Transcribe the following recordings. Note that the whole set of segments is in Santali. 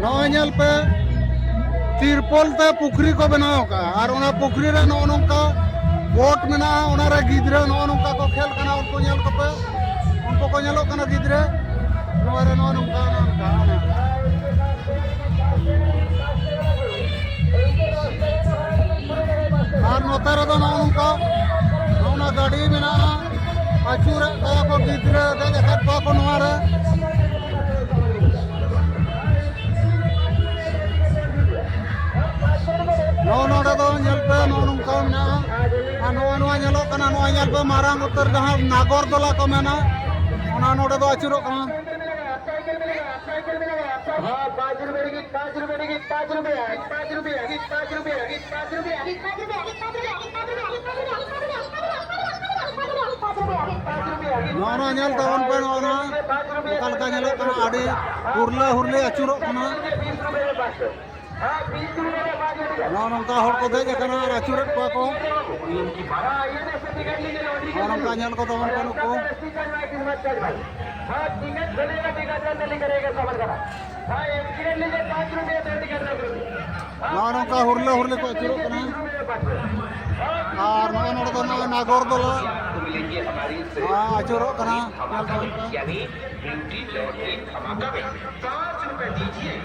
ᱱᱚᱜᱼᱚᱭ ᱧᱮᱞ ᱯᱮ ᱛᱤᱨᱯᱚᱞ ᱛᱮ ᱯᱩᱠᱷᱨᱤ ᱠᱚ ᱵᱮᱱᱟᱣ ᱟᱠᱟᱫᱼᱟ ᱟᱨ ᱚᱱᱟ ᱯᱩᱠᱷᱨᱤ ᱨᱮ ᱱᱚᱜᱼᱚ ᱱᱚᱝᱠᱟ ᱵᱳᱴ ᱢᱮᱱᱟᱜᱼᱟ ᱚᱱᱟᱨᱮ ᱜᱤᱫᱽᱨᱟᱹ ᱱᱚᱜᱼᱚ ᱱᱚᱝᱠᱟ ᱠᱚ ᱠᱷᱮᱞ ᱠᱟᱱᱟ ᱩᱱᱠᱩ ᱧᱮᱞ ᱠᱚᱯᱮ ᱩᱱᱠᱩ ᱠᱚ ᱧᱮᱞᱚᱜ ᱠᱟᱱᱟ ᱜᱤᱫᱽᱨᱟᱹ ᱱᱚᱣᱟ ᱨᱮ ᱱᱚᱣᱟ ᱱᱚᱝᱠᱟ ᱱᱚᱝᱠᱟ ᱟᱨ ᱱᱚᱛᱮ ᱨᱮᱫᱚ ᱱᱚᱜᱼᱚ ᱱᱚᱝᱠᱟ ᱱᱚᱜᱼᱚ ᱜᱟᱹᱰᱤ ᱢᱮᱱᱟᱜᱼᱟ ᱟᱹᱪᱩᱨᱮᱫ ᱠᱚᱣᱟ ᱠᱚ ᱜᱤᱫᱽᱨᱟᱹ ᱫᱮᱡ ᱟᱠᱟᱫ ᱠᱚᱣᱟ ᱠᱚ ᱱᱚᱣᱟ ᱨᱮ ᱱᱚᱜᱼᱚ ᱱᱚᱰᱮ ᱫᱚ ᱧᱮᱞ ᱯᱮ ᱱᱚᱜᱼᱚ ᱱᱚᱝᱠᱟ ᱢᱮᱱᱟᱜᱼᱟ ᱱᱚᱣᱟ ᱱᱚᱣᱟ ᱧᱮᱞᱚᱜ ᱠᱟᱱᱟ ᱱᱚᱣᱟ ᱧᱮᱞ ᱯᱮ ᱢᱟᱨᱟᱝ ᱩᱛᱟᱹᱨ ᱡᱟᱦᱟᱸ ᱱᱟᱜᱚᱨ ᱫᱚᱞᱟ ᱠᱚ ᱢᱮᱱᱟ ᱚᱱᱟ ᱱᱚᱰᱮ ᱫᱚ ᱟᱹᱪᱩᱨᱚᱜ ᱠᱟᱱᱟ ᱱᱚᱜᱼᱚ ᱱᱚᱣᱟ ᱧᱮᱞ ᱛᱟᱵᱚᱱ ᱯᱮ ᱱᱚᱜᱼᱚ ᱱᱚᱣᱟ ᱚᱠᱟ ᱞᱮᱠᱟ ᱧᱮᱞᱚᱜ ᱠᱟᱱᱟ ᱟᱹᱰᱤ ᱦᱩᱨᱞᱟᱹ ᱦᱩᱨᱞᱟᱹ ᱟᱹᱪᱩᱨᱚᱜ ᱠᱟᱱᱟ ᱱᱚᱜᱼᱚ ᱱᱚᱝᱠᱟ ᱦᱚᱲ ᱠᱚ ᱫᱮᱡ ᱟᱠᱟᱱᱟ ᱟᱨ ᱟᱹᱪᱩᱨᱮᱫ ᱠᱚᱣᱟ ᱠᱚ ᱱᱚᱜᱼᱚ ᱱᱚᱝᱠᱟ ᱧᱮᱞ ᱠᱚ ᱛᱟᱵᱚᱱ ᱠᱚ ᱱᱩᱠᱩ ᱱᱚᱜᱼᱚ ᱱᱚᱝᱠᱟ ᱦᱩᱨᱞᱟᱹ ᱦᱩᱨᱞᱟᱹ ᱠᱚ ᱟᱹᱪᱩᱨᱚᱜ ᱠᱟᱱᱟ ᱟᱨ ᱱᱚᱜᱼᱚ ᱱᱚᱰᱮ ᱫᱚ ᱱᱚᱜᱼᱚᱭ ᱱᱟᱜᱚᱨ ᱫᱚᱞᱟ ᱟᱹᱪᱩᱨᱚᱜ ᱠᱟᱱᱟ ᱧᱮᱞ ᱛᱟᱵᱚᱱ ᱯᱮ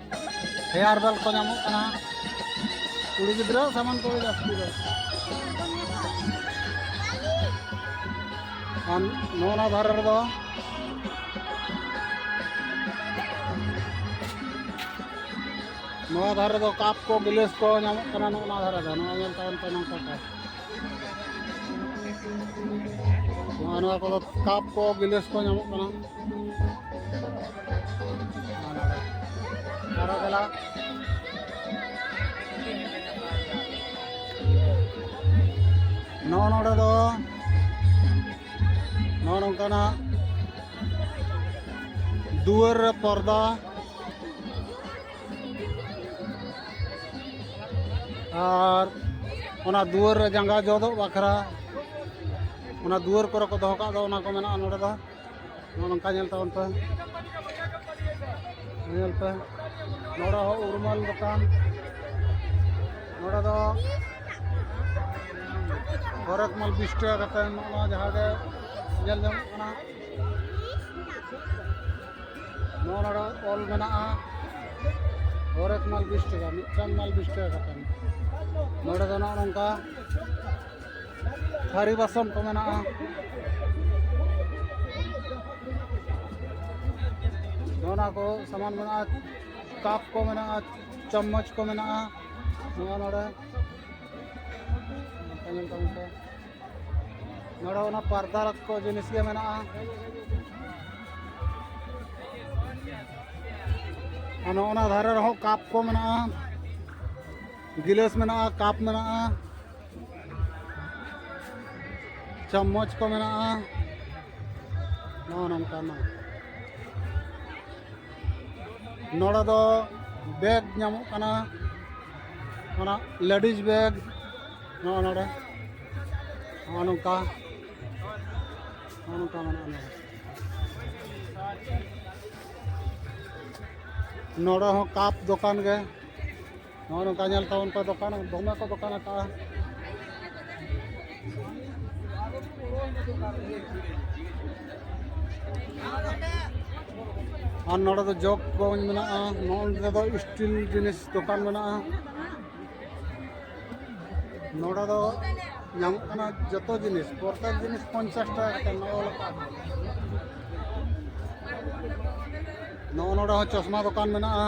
ᱦᱮᱭᱟᱨ ᱵᱮᱞ ᱠᱚ ᱧᱟᱢᱚᱜ ᱠᱟᱱᱟ ᱠᱩᱲᱤ ᱜᱤᱫᱽᱨᱟᱹ ᱥᱟᱢᱟᱱ ᱠᱚ ᱡᱟᱹᱥᱛᱤ ᱫᱚ ᱟᱨ ᱱᱚᱣᱟ ᱫᱷᱟᱨᱮ ᱨᱮᱫᱚ ᱱᱚᱣᱟ ᱫᱷᱟᱨᱮ ᱫᱚ ᱠᱟᱯ ᱠᱚ ᱜᱤᱞᱟᱹᱥ ᱠᱚ ᱧᱟᱢᱚᱜ ᱠᱟᱱᱟ ᱱᱚᱣᱟ ᱫᱷᱟᱨᱮ ᱫᱚ ᱱᱚᱣᱟ ᱧᱮᱞ ᱛᱟᱵᱚᱱ ᱯᱮ ᱱᱚᱝᱠᱟ ᱠᱚ ᱱᱚᱣᱟ ᱠᱚᱫᱚ ᱠᱟᱯ ᱠᱚ ᱜᱤᱞᱟᱹᱥ ᱠᱚ ᱧᱟᱢᱚᱜ ᱠᱟᱱᱟ ᱱᱚᱜᱼᱚ ᱱᱚᱰᱮ ᱫᱚ ᱱᱚᱜᱼᱚ ᱱᱚᱝᱠᱟᱱᱟᱜ ᱫᱩᱣᱟᱹᱨ ᱨᱮ ᱯᱚᱨᱫᱟ ᱟᱨ ᱚᱱᱟ ᱫᱩᱣᱟᱹᱨ ᱨᱮ ᱡᱟᱸᱜᱟ ᱡᱚᱫᱚᱜ ᱵᱟᱠᱷᱨᱟ ᱚᱱᱟ ᱫᱩᱣᱟᱹᱨ ᱠᱚᱨᱮ ᱠᱚ ᱫᱚᱦᱚ ᱠᱟᱜ ᱫᱚ ᱚᱱᱟ ᱠᱚ ᱢᱮᱱᱟᱜᱼᱟ ᱱᱚᱰᱮ ᱫᱚ ᱱᱚᱜᱼᱚ ᱱᱚᱝᱠᱟ ᱧᱮᱞ ᱛᱟᱵᱚᱱ ᱯᱮ ᱧᱮᱞ ᱯᱮ ᱱᱚᱰᱮ ᱦᱚᱸ ᱩᱨᱢᱟᱞ ᱫᱚᱠᱟᱱ ᱱᱚᱰᱮ ᱫᱚ ᱦᱚᱨᱮᱠ ᱢᱟᱞ ᱵᱤᱥ ᱴᱟᱠᱟ ᱠᱟᱛᱮ ᱱᱚᱜᱼᱚ ᱱᱚᱣᱟ ᱡᱟᱦᱟᱸ ᱜᱮ ᱧᱮᱞ ᱧᱟᱢᱚᱜ ᱠᱟᱱᱟ ᱱᱚᱣᱟ ᱱᱚᱰᱮ ᱚᱞ ᱢᱮᱱᱟᱜᱼᱟ ᱦᱚᱨᱮᱠ ᱢᱟᱞ ᱵᱤᱥ ᱴᱟᱠᱟ ᱢᱤᱫᱴᱟᱝ ᱢᱟᱞ ᱵᱤᱥ ᱴᱟᱠᱟ ᱠᱟᱛᱮ ᱱᱚᱰᱮ ᱫᱚ ᱱᱚᱜᱼᱚ ᱱᱚᱝᱠᱟ ᱛᱷᱟᱹᱨᱤ ᱵᱟᱥᱚᱱ ᱠᱚ ᱢᱮᱱᱟᱜᱼᱟ ᱱᱚᱣᱟ ᱠᱚ ᱥᱟᱢᱟᱱ ᱢᱮᱱᱟᱜᱼᱟ ᱠᱟᱯ ᱠᱚ ᱢᱮᱱᱟᱜᱼᱟ ᱪᱟᱢᱚᱪ ᱠᱚ ᱢᱮᱱᱟᱜᱼᱟ ᱱᱚᱣᱟ ᱱᱚᱰᱮ ᱧᱮᱞ ᱛᱟᱵᱚᱱ ᱯᱮ ᱱᱚᱰᱮ ᱚᱱᱟ ᱯᱟᱨᱫᱟ ᱠᱚ ᱡᱤᱱᱤᱥ ᱜᱮ ᱢᱮᱱᱟᱜᱼᱟ ᱟᱨ ᱱᱚᱜᱼᱚ ᱱᱟ ᱫᱷᱟᱨᱮ ᱨᱮᱦᱚᱸ ᱠᱟᱯ ᱠᱚ ᱢᱮᱱᱟᱜᱼᱟ ᱜᱤᱞᱟᱹᱥ ᱢᱮᱱᱟᱜᱼᱟ ᱠᱟᱯ ᱢᱮᱱᱟᱜᱼᱟ ᱪᱟᱢᱚᱪ ᱠᱚ ᱢᱮᱱᱟᱜᱼᱟ ᱱᱚᱜᱼᱚ ᱱᱚᱝᱠᱟᱱᱟᱜ ᱱᱚᱰᱮ ᱫᱚ ᱵᱮᱜᱽ ᱧᱟᱢᱚᱜ ᱠᱟᱱᱟ ᱚᱱᱟ ᱞᱮᱰᱤᱡᱽ ᱵᱮᱜᱽ ᱱᱚᱜᱼᱚ ᱱᱚᱰᱮ ᱱᱚᱜᱼᱚ ᱱᱚᱝᱠᱟ ᱱᱚᱜᱼᱚ ᱱᱚᱝᱠᱟ ᱢᱮᱱᱟᱜᱼᱟ ᱱᱚᱰᱮ ᱱᱚᱰᱮ ᱦᱚᱸ ᱠᱟᱯ ᱫᱚᱠᱟᱱ ᱜᱮ ᱱᱚᱜᱼᱚ ᱱᱚᱝᱠᱟ ᱧᱮᱞ ᱛᱟᱵᱚᱱ ᱯᱮ ᱫᱚᱠᱟᱱ ᱫᱚᱢᱮ ᱠᱚ ᱫᱚᱠᱟᱱ ᱟᱠᱟᱫᱼᱟ ᱟᱨ ᱱᱚᱰᱮ ᱫᱚ ᱡᱚᱜᱽ ᱜᱚᱧ ᱢᱮᱱᱟᱜᱼᱟ ᱱᱚᱰᱮ ᱫᱚ ᱥᱴᱤᱞ ᱡᱤᱱᱤᱥ ᱫᱚᱠᱟᱱ ᱢᱮᱱᱟᱜᱼᱟ ᱱᱚᱰᱮ ᱫᱚ ᱧᱟᱢᱚᱜ ᱠᱟᱱᱟ ᱡᱚᱛᱚ ᱡᱤᱱᱤᱥ ᱯᱨᱚᱛᱮᱠ ᱡᱤᱱᱤᱥ ᱯᱚᱧᱪᱟᱥ ᱴᱟᱠᱟ ᱠᱟᱛᱮ ᱱᱚᱜᱼᱚ ᱞᱮᱠᱟ ᱱᱚᱜᱼᱚ ᱱᱚᱰᱮ ᱦᱚᱸ ᱪᱚᱥᱢᱟ ᱫᱚᱠᱟᱱ ᱢᱮᱱᱟᱜᱼᱟ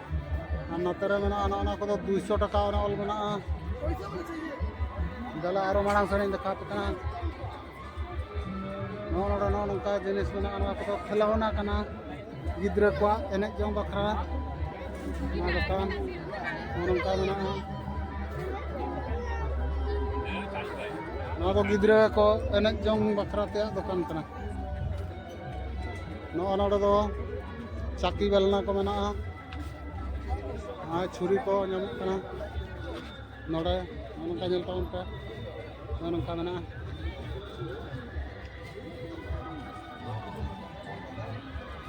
ᱟᱨ ᱱᱚᱛᱮ ᱨᱮ ᱢᱮᱱᱟᱜᱼᱟ ᱱᱚᱜᱼᱚ ᱱᱚᱣᱟ ᱠᱚᱫᱚ ᱫᱩᱭᱥᱚ ᱴᱟᱠᱟ ᱚᱱᱟ ᱚᱞ ᱢᱮᱱᱟᱜᱼᱟ ᱫᱮᱞᱟ ᱟᱨᱚ ᱢᱟᱲᱟᱝ ᱥᱮᱫ ᱤᱧ ᱫᱮᱠᱷᱟᱣ ᱟᱯᱮ ᱠᱟᱱᱟ ᱱᱚᱜᱼᱚ ᱱᱚᱰᱮ ᱱᱚᱜᱼᱚ ᱱᱚᱝᱠᱟ ᱡᱤᱱᱤᱥ ᱢᱮᱱᱟᱜᱼᱟ ᱱᱚᱣᱟ ᱠᱚᱫᱚ ᱠᱷᱮᱞᱣᱱᱟ ᱠᱟᱱᱟ ᱜᱤᱫᱽᱨᱟᱹ ᱠᱚᱣᱟᱜ ᱮᱱᱮᱡ ᱡᱚᱝ ᱵᱟᱠᱷᱨᱟ ᱱᱚᱣᱟ ᱫᱚᱠᱟᱱ ᱱᱚᱜᱼᱚ ᱱᱚᱝᱠᱟ ᱢᱮᱱᱟᱜᱼᱟ ᱱᱚᱣᱟ ᱫᱚ ᱜᱤᱫᱽᱨᱟᱹ ᱠᱚ ᱮᱱᱮᱡ ᱡᱚᱝ ᱵᱟᱠᱷᱨᱟ ᱛᱮᱭᱟᱜ ᱫᱚᱠᱟᱱ ᱠᱟᱱᱟ ᱱᱚᱜᱼᱚ ᱱᱚᱰᱮ ᱫᱚ ᱪᱟᱹᱠᱤ ᱵᱮᱞᱱᱟ ᱠᱚ ᱢᱮᱱᱟᱜᱼᱟ ᱟᱨ ᱪᱷᱩᱨᱤ ᱠᱚ ᱧᱟᱢᱚᱜ ᱠᱟᱱᱟ ᱱᱚᱰᱮ ᱱᱚᱝᱠᱟ ᱧᱮᱞ ᱛᱟᱵᱚᱱ ᱯᱮ ᱱᱚᱜᱼᱚ ᱱᱚᱝᱠᱟ ᱢᱮᱱᱟᱜᱼᱟ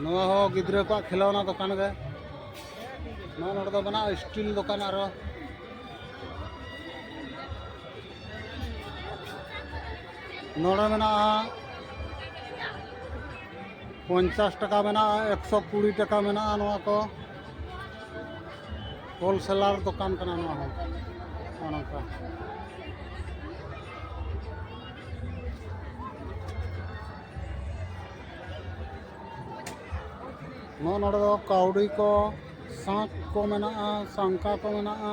ᱱᱚᱣᱟ ᱦᱚᱸ ᱜᱤᱫᱽᱨᱟᱹ ᱠᱚᱣᱟᱜ ᱠᱷᱮᱞᱳᱱᱟ ᱫᱚᱠᱟᱱ ᱜᱮ ᱱᱚᱣᱟ ᱱᱚᱰᱮ ᱫᱚ ᱢᱮᱱᱟᱜᱼᱟ ᱥᱴᱤᱞ ᱫᱚᱠᱟᱱ ᱟᱨᱚ ᱱᱚᱰᱮ ᱢᱮᱱᱟᱜᱼᱟ ᱯᱚᱧᱪᱟᱥ ᱴᱟᱠᱟ ᱢᱮᱱᱟᱜᱼᱟ ᱮᱠᱥᱚ ᱠᱩᱲᱤ ᱴᱟᱠᱟ ᱢᱮᱱᱟᱜᱼᱟ ᱱᱚᱣᱟ ᱠᱚ ᱦᱳᱞᱥᱮᱞᱟᱨ ᱫᱚᱠᱟᱱ ᱠᱟᱱᱟ ᱱᱚᱣᱟ ᱦᱚᱸ ᱱᱚᱜᱼᱚ ᱱᱚᱝᱠᱟ ᱱᱚᱜᱼᱚ ᱱᱚᱰᱮ ᱫᱚ ᱠᱟᱹᱣᱰᱤ ᱠᱚ ᱥᱟᱸᱠ ᱠᱚ ᱢᱮᱱᱟᱜᱼᱟ ᱥᱟᱝᱠᱟ ᱠᱚ ᱢᱮᱱᱟᱜᱼᱟ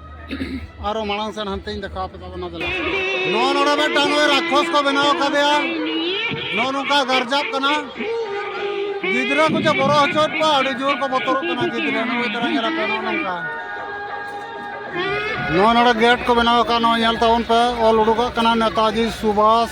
ᱟᱨᱚ ᱢᱟᱲᱟᱝ ᱥᱮᱱ ᱦᱟᱱᱛᱮᱧ ᱫᱮᱠᱷᱟᱣ ᱯᱮ ᱛᱟᱵᱚᱱᱟ ᱫᱮᱞᱟ ᱱᱚᱣᱟ ᱱᱚᱰᱮ ᱢᱤᱫᱴᱟᱝ ᱱᱚᱜᱼᱚᱭ ᱨᱟᱠᱷᱚᱥ ᱠᱚ ᱵᱮᱱᱟᱣ ᱠᱟᱫᱮᱭᱟ ᱱᱚᱜᱼᱚ ᱱᱚᱝᱠᱟ ᱜᱟᱨᱡᱟᱜ ᱠᱟᱱᱟ ᱜᱤᱫᱽᱨᱟᱹ ᱠᱚ ᱡᱮ ᱵᱚᱨᱚ ᱦᱚᱪᱚᱭᱮᱫ ᱠᱚᱣᱟ ᱟᱹᱰᱤ ᱡᱳᱨ ᱠᱚ ᱵᱚᱛᱚᱨᱚᱜ ᱠᱟᱱᱟ ᱜᱤᱫᱽᱨᱟᱹ ᱱᱚᱜᱼᱚᱭ ᱛᱟᱨᱟ ᱧᱮᱞ ᱟᱯᱮ ᱱᱚᱜᱼᱚ ᱱᱚᱝᱠᱟ ᱱᱚᱣᱟ ᱱᱚᱰᱮ ᱜᱮᱴ ᱠᱚ ᱵᱮᱱᱟᱣ ᱟᱠᱟᱫ ᱱᱚᱣᱟ ᱧᱮᱞ ᱛᱟᱵᱚᱱ ᱯᱮ ᱚᱞ ᱩᱰᱩᱠᱚᱜ ᱠᱟᱱᱟ ᱱᱮᱛᱟᱡᱤ ᱥᱩᱵᱷᱟᱥ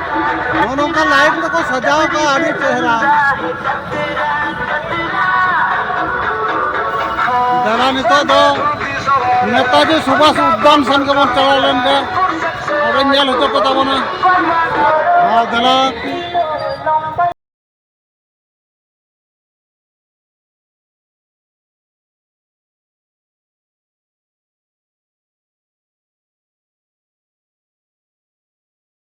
ᱱᱚᱜᱼᱚ ᱱᱚᱝᱠᱟ ᱞᱟᱭᱤᱴ ᱛᱮᱠᱚ ᱥᱟᱡᱟᱣ ᱠᱟᱜᱼᱟ ᱟᱹᱰᱤ ᱪᱮᱦᱨᱟ ᱫᱟᱫᱟ ᱱᱤᱛᱚᱜ ᱫᱚ ᱱᱮᱛᱟᱡᱤ ᱥᱩᱵᱷᱟᱥ ᱩᱫᱽᱫᱟᱱ ᱥᱮᱱ ᱜᱮᱵᱚᱱ ᱪᱟᱞᱟᱣ ᱞᱮᱱ ᱜᱮ ᱟᱫᱚᱧ ᱧᱮᱞ ᱦᱚᱪᱚ ᱠᱚ ᱛᱟᱵᱚᱱᱟ ᱟᱨ ᱫᱟᱫᱟ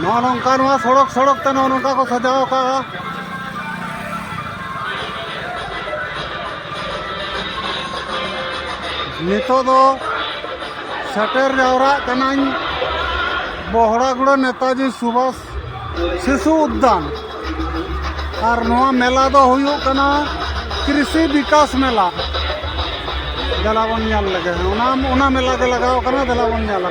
ᱱᱚᱜᱼᱚ ᱱᱚᱝᱠᱟ ᱱᱚᱣᱟ ᱥᱚᱲᱚᱠ ᱥᱚᱲᱚᱠ ᱛᱮ ᱱᱚᱜᱼᱚ ᱱᱚᱝᱠᱟ ᱠᱚ ᱥᱟᱡᱟᱣ ᱟᱠᱟᱫᱼᱟ ᱱᱤᱛᱚᱜ ᱫᱚ ᱥᱮᱴᱮᱨ ᱡᱟᱣᱨᱟᱜ ᱠᱟᱹᱱᱟᱹᱧ ᱵᱚᱦᱲᱟᱜᱩᱲᱟᱹ ᱱᱮᱛᱟᱡᱤ ᱥᱩᱵᱷᱟᱥ ᱥᱤᱥᱩ ᱩᱫᱽᱫᱟᱱ ᱟᱨ ᱱᱚᱣᱟ ᱢᱮᱞᱟ ᱫᱚ ᱦᱩᱭᱩᱜ ᱠᱟᱱᱟ ᱠᱨᱤᱥᱤ ᱵᱤᱠᱟᱥ ᱢᱮᱞᱟ ᱫᱮᱞᱟ ᱵᱚᱱ ᱧᱮᱞ ᱞᱮᱜᱮ ᱚᱱᱟ ᱚᱱᱟ ᱢᱮᱞᱟ ᱜᱮ ᱞᱟᱜᱟᱣ ᱠᱟᱱᱟ ᱫᱮᱞᱟ ᱵᱚᱱ ᱧᱮᱞᱟ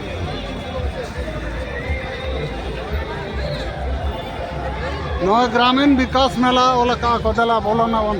ᱱᱚᱣᱟ ᱜᱨᱟᱢᱤᱱ ᱵᱤᱠᱟᱥ ᱢᱮᱞᱟ ᱚᱞ ᱟᱠᱟᱫ ᱠᱚ ᱫᱮᱞᱟ ᱵᱚᱞᱚᱱᱟ ᱵᱚᱱ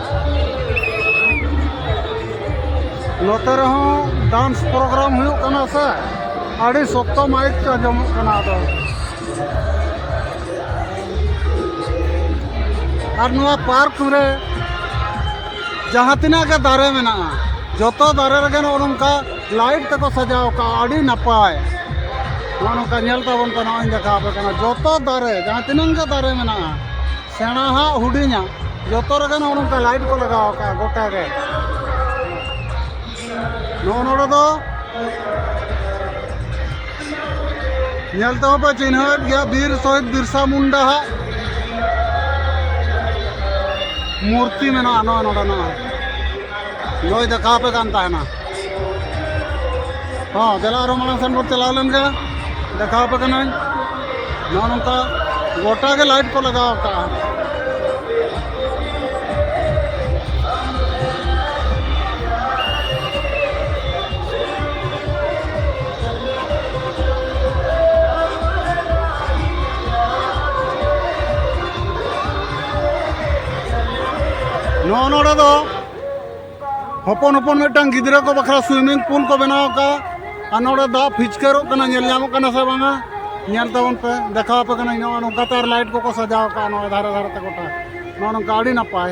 ᱱᱚᱛᱮ ᱨᱮᱦᱚᱸ ᱰᱟᱱᱥ ᱯᱨᱳᱜᱨᱟᱢ ᱦᱩᱭᱩᱜ ᱠᱟᱱᱟ ᱥᱮ ᱟᱹᱰᱤ ᱥᱚᱠᱛᱚ ᱢᱟᱭᱤᱠ ᱠᱚ ᱟᱸᱡᱚᱢᱚᱜ ᱠᱟᱱᱟ ᱟᱫᱚ ᱟᱨ ᱱᱚᱣᱟ ᱯᱟᱨᱠ ᱨᱮ ᱡᱟᱦᱟᱸ ᱛᱤᱱᱟᱹᱜ ᱜᱮ ᱫᱟᱨᱮ ᱢᱮᱱᱟᱜᱼᱟ ᱡᱚᱛᱚ ᱫᱟᱨᱮ ᱨᱮᱜᱮ ᱱᱚᱜᱼᱚ ᱱᱚᱝᱠᱟ ᱞᱟᱭᱤᱴ ᱛᱮᱠᱚ ᱥᱟᱡᱟᱣ ᱠᱟᱜᱼᱟ ᱟᱹᱰᱤ ᱱᱟᱯᱟᱭ ᱱᱚᱜᱼᱚ ᱱᱚᱝᱠᱟ ᱧᱮᱞ ᱛᱟᱵᱚᱱ ᱯᱮ ᱱᱚᱜᱼᱚᱭ ᱫᱮᱠᱷᱟᱣ ᱟᱯᱮ ᱠᱟᱱᱟ ᱡᱚᱛᱚ ᱫᱟᱨᱮ ᱡᱟᱦᱟᱸ ᱛᱤᱱᱟᱹᱜ ᱜᱮ ᱫᱟᱨᱮ ᱢᱮᱱᱟᱜᱼᱟ ᱥᱮᱬᱟ ᱦᱟᱜ ᱦᱩᱰᱤᱧᱟ ᱡᱚᱛᱚ ᱨᱮᱜᱮ ᱱᱚᱜᱼᱚ ᱱᱚᱝᱠᱟ ᱞᱟᱭᱤᱴ ᱠᱚ ᱞᱟᱜᱟᱣ ᱟᱠᱟᱫᱼᱟ ᱜᱚᱴᱟ ᱜᱮ ᱱᱚᱜᱼᱚ ᱱᱚᱰᱮ ᱫᱚ ᱧᱮᱞ ᱛᱮᱦᱚᱸ ᱯᱮ ᱪᱤᱱᱦᱟᱹᱣᱮᱫ ᱜᱮᱭᱟ ᱵᱤᱨ ᱥᱚᱦᱤᱫ ᱵᱤᱨᱥᱟ ᱢᱩᱱᱰᱟ ᱦᱟᱜ ᱢᱩᱨᱛᱤ ᱢᱮᱱᱟᱜᱼᱟ ᱱᱚᱜᱼᱚ ᱱᱚᱰᱮ ᱱᱚᱜᱼᱚᱭ ᱱᱚᱜᱼᱚᱭ ᱫᱮᱠᱷᱟᱣ ᱟᱯᱮ ᱠᱟᱱ ᱛᱟᱦᱮᱱᱟ ᱦᱚᱸ ᱫᱮᱞᱟ ᱟᱨᱚ ᱢᱟᱲᱟᱝ ᱥᱮᱱ ᱵᱚᱱ ᱪᱟᱞᱟᱣ ᱞᱮᱱ ᱜᱮ ᱫᱮᱠᱷᱟᱣ ᱟᱯᱮ ᱠᱟᱹᱱᱟᱹᱧ ᱱᱚᱜᱼᱚ ᱱᱚᱝᱠᱟ ᱜᱚᱴᱟ ᱜᱮ ᱞᱟᱭᱤᱴ ᱠᱚ ᱞᱟᱜᱟᱣ ᱟᱠᱟᱫᱼᱟ ᱱᱚᱜᱼᱚ ᱱᱚᱰᱮ ᱫᱚ ᱦᱚᱯᱚᱱ ᱦᱚᱯᱚᱱ ᱢᱤᱫᱴᱟᱝ ᱜᱤᱫᱽᱨᱟᱹ ᱠᱚ ᱵᱟᱠᱷᱨᱟ ᱥᱩᱭᱢᱤᱝ ᱯᱩᱞ ᱠᱚ ᱵᱮᱱᱟᱣ ᱟᱠᱟᱫᱼᱟ ᱟᱨ ᱱᱚᱰᱮ ᱫᱟᱜ ᱯᱷᱤᱪᱠᱟᱹᱨᱚᱜ ᱠᱟᱱᱟ ᱧᱮᱞ ᱧᱟᱢᱚᱜ ᱠᱟᱱᱟ ᱥᱮ ᱵᱟᱝᱟ ᱧᱮᱞ ᱛᱟᱵᱚᱱ ᱯᱮ ᱫᱮᱠᱷᱟᱣ ᱟᱯᱮ ᱠᱟᱹᱱᱟᱹᱧ ᱱᱚᱜᱼᱚ ᱱᱚᱝᱠᱟ ᱛᱮ ᱟᱨ ᱞᱟᱭᱤᱴ ᱠᱚᱠᱚ ᱥᱟᱡᱟᱣ ᱟᱠᱟᱫᱼᱟ ᱱᱚᱣᱟ ᱫᱷᱟᱨᱮ ᱫᱷᱟᱨᱮ ᱛᱮ ᱜᱚᱴᱟ ᱱᱚᱜᱼᱚ ᱱᱚᱝᱠᱟ ᱟᱹᱰᱤ ᱱᱟᱯᱟᱭ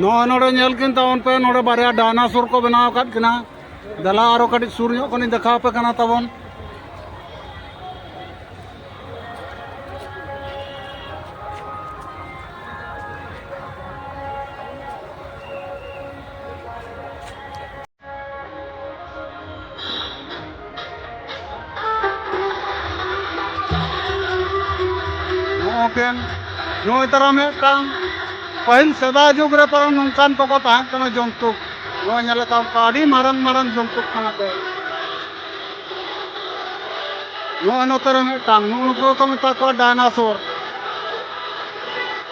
ᱱᱚᱜᱼᱚᱭ ᱱᱚᱰᱮ ᱧᱮᱞ ᱠᱤᱱ ᱛᱟᱵᱚᱱ ᱯᱮ ᱱᱚᱰᱮ ᱵᱟᱨᱭᱟ ᱰᱟᱭᱱᱟᱥᱚᱨ ᱠᱚ ᱵᱮᱱᱟᱣ ᱟᱠᱟᱫ ᱠᱤᱱᱟ ᱫᱮᱞᱟ ᱟᱨᱚ ᱠᱟᱹᱴᱤᱡ ᱥᱩᱨ ᱧᱚᱜ ᱠᱷᱚᱱᱤᱧ ᱫᱮᱠᱷᱟᱣ ᱯᱮ ᱠᱟᱱᱟ ᱛᱟᱵᱚᱱ ᱢᱤᱫᱴᱮᱱ ᱱᱚᱜᱼᱚᱭ ᱛᱟᱨᱟ ᱢᱤᱫᱴᱟᱝ ᱯᱟᱹᱦᱤᱞ ᱥᱮᱫᱟᱭ ᱡᱩᱜᱽ ᱨᱮ ᱛᱟᱨᱟ ᱱᱚᱝᱠᱟᱱ ᱠᱚᱠᱚ ᱛᱟᱦᱮᱸ ᱠᱟᱱᱟ ᱡᱚᱱᱛᱩ ᱱᱚᱜᱼᱚᱭ ᱧᱮᱞ ᱠᱟᱜ ᱠᱚ ᱟᱹᱰᱤ ᱢᱟᱨᱟᱝ ᱢᱟᱨᱟᱝ ᱡᱚᱱᱛᱩ ᱠᱟᱱᱟ ᱠᱚ ᱱᱚᱜᱼᱚᱭ ᱱᱚᱛᱮ ᱨᱮ ᱢᱤᱫᱴᱟᱝ ᱱᱩᱠᱩ ᱠᱚ ᱢᱮᱛᱟ ᱠᱚᱣᱟ ᱰᱟᱭᱱᱟᱥᱚᱨ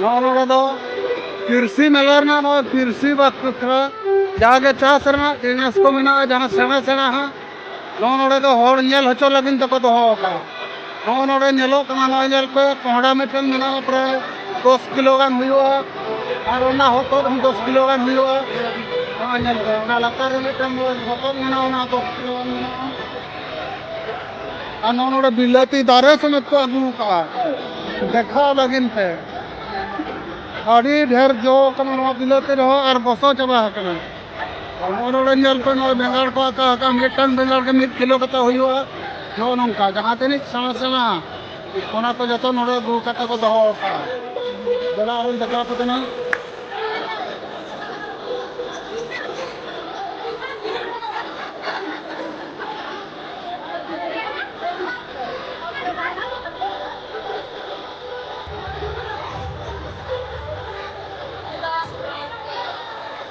ᱱᱚᱜᱼᱚ ᱱᱚᱰᱮ ᱫᱚ ᱠᱤᱨᱥᱤ ᱢᱮᱞᱟ ᱨᱮᱱᱟᱜ ᱱᱚᱜᱼᱚᱭ ᱠᱤᱨᱥᱤ ᱵᱟᱠᱷᱨᱟ ᱡᱟᱜᱮ ᱪᱟᱥ ᱨᱮᱱᱟᱜ ᱡᱤᱱᱤᱥ ᱠᱚ ᱢᱮᱱᱟᱜᱼᱟ ᱡᱟᱦᱟᱸ ᱥᱮᱬᱟ ᱥᱮᱬᱟ ᱦᱟᱸᱜ ᱱᱚᱜᱼᱚ ᱱᱚᱰᱮ ᱫᱚ ᱦᱚᱲ ᱧᱮᱞ ᱦᱚᱪᱚ ᱞᱟᱹᱜᱤᱫ ᱛᱮᱠᱚ ᱫᱚᱦᱚ ᱟᱠᱟᱫᱟ ᱱᱚᱜᱼᱚ ᱱᱚᱰᱮ ᱧᱮᱞᱚᱜ ᱠᱟᱱᱟ ᱱᱚᱜᱼᱚᱭ ᱧᱮᱞ ᱯᱮ ᱠᱚᱸᱦᱰᱟ ᱢᱤᱫᱴᱮᱱ ᱢᱮᱱᱟᱜᱼᱟ ᱯᱨᱟᱭ ᱫᱚᱥ ᱠᱤᱞᱳ ᱜᱟᱱ ᱦᱩᱭᱩᱜᱼᱟ ᱟᱨ ᱚᱱᱟ ᱦᱚᱛᱚᱫ ᱦᱚᱸ ᱫᱚᱥ ᱠᱤᱞᱳ ᱜᱟᱱ ᱦᱩᱭᱩᱜᱼᱟ ᱱᱚᱜᱼᱚᱭ ᱧᱮᱞ ᱯᱮ ᱚᱱᱟ ᱞᱟᱛᱟᱨ ᱨᱮ ᱢᱤᱫᱴᱮᱱ ᱦᱚᱛᱚᱫ ᱢᱮᱱᱟᱜᱼᱟ ᱚᱱᱟ ᱫᱚᱥ ᱠᱤᱞᱳ ᱜᱟᱱ ᱢᱮᱱᱟᱜᱼᱟ ᱟᱨ ᱱᱚᱜᱼᱚ ᱱᱚᱰᱮ ᱵᱤᱞᱟᱹᱛᱤ ᱫᱟᱨᱮ ᱥᱚᱢᱮᱛ ᱠᱚ ᱟᱹᱜᱩ ᱟᱠᱟᱫᱼᱟ ᱫᱮᱠᱷᱟᱣ ᱞᱟᱹᱜᱤᱫ ᱛᱮ ᱟᱹᱰᱤ ᱰᱷᱮᱨ ᱡᱚ ᱟᱠᱟᱱᱟ ᱱᱚᱣᱟ ᱵᱤᱞᱟᱹᱛᱤ ᱨᱮᱦᱚᱸ ᱟᱨ ᱜᱚᱥᱚ ᱪᱟᱵᱟ ᱟᱠᱟᱱᱟ ᱱᱚᱜᱼᱚ ᱱᱚᱰᱮ ᱧᱮᱞ ᱯᱮ ᱱᱚᱜᱼᱚᱭ ᱵᱮᱸᱜᱟᱲ ᱠᱚ ᱟᱠᱟ ᱟᱠᱟ ᱢᱤᱫᱴᱟᱝ ᱵᱮᱸᱜᱟᱲ ᱜᱮ ᱢᱤᱫ ᱠᱤᱞᱳ ᱠᱟᱛᱮ ᱦᱩᱭᱩᱜᱼᱟ ᱱᱚᱜᱼᱚ ᱱᱚᱝᱠᱟ ᱡᱟᱦᱟᱸ ᱛᱤᱱᱟᱹᱜ ᱥᱮᱬᱟ ᱥᱮᱬᱟ ᱚᱱᱟ ᱠᱚ ᱡᱚᱛᱚ ᱱᱚᱰᱮ ᱟᱹᱜᱩ ᱠᱟᱛᱮ ᱠᱚ ᱫᱚᱦᱚ ᱟᱠᱟᱫᱼᱟ ᱫᱮᱞᱟ ᱟᱨᱚᱧ ᱫᱮᱠᱷᱟᱣ ᱟᱯᱮ ᱠᱟᱱᱟ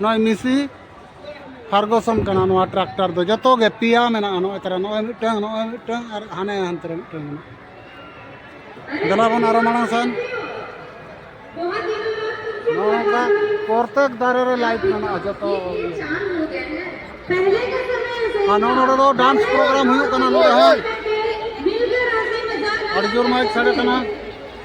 ᱱᱚᱜᱼᱚᱭ ᱢᱤᱥᱤ ᱯᱷᱟᱨᱜᱚᱥᱚᱱ ᱠᱟᱱᱟ ᱱᱚᱣᱟ ᱴᱨᱟᱠᱴᱟᱨ ᱫᱚ ᱡᱚᱛᱚ ᱜᱮ ᱯᱮᱭᱟ ᱢᱮᱱᱟᱜᱼᱟ ᱱᱚᱜᱼᱚᱭ ᱛᱟᱨᱟ ᱱᱚᱜᱼᱚᱭ ᱢᱤᱫᱴᱟᱝ ᱱᱚᱜᱼᱚᱭ ᱢᱤᱫᱴᱟᱝ ᱟᱨ ᱦᱟᱱᱮ ᱦᱟᱱᱛᱮ ᱨᱮ ᱢᱤᱫᱴᱟᱝ ᱢᱮᱱᱟᱜᱼᱟ ᱫᱮᱞᱟ ᱵᱚᱱ ᱟᱨᱚ ᱢᱟᱲᱟᱝ ᱥᱮᱱ ᱱᱚᱝᱠᱟ ᱯᱨᱚᱛᱮᱠ ᱫᱟᱨᱮ ᱨᱮ ᱞᱟᱭᱤᱴ ᱢᱮᱱᱟᱜᱼᱟ ᱡᱚᱛᱚ ᱟᱨ ᱱᱚᱜᱼᱚ ᱱᱚᱰᱮ ᱫᱚ ᱰᱟᱱᱥ ᱯᱨᱳᱜᱨᱟᱢ ᱦᱩᱭᱩᱜ ᱠᱟᱱᱟ ᱱᱚᱰᱮ ᱦᱚᱸ ᱟᱹᱰᱤ ᱡᱳᱨ ᱢᱟᱭᱤᱠ ᱥᱟᱰᱮ ᱠᱟᱱᱟ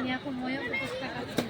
ᱱᱤᱭᱟᱹ ᱠᱚ ᱢᱚᱭᱚ ᱵᱮᱵᱚᱥᱛᱷᱟ ᱠᱟᱛᱮ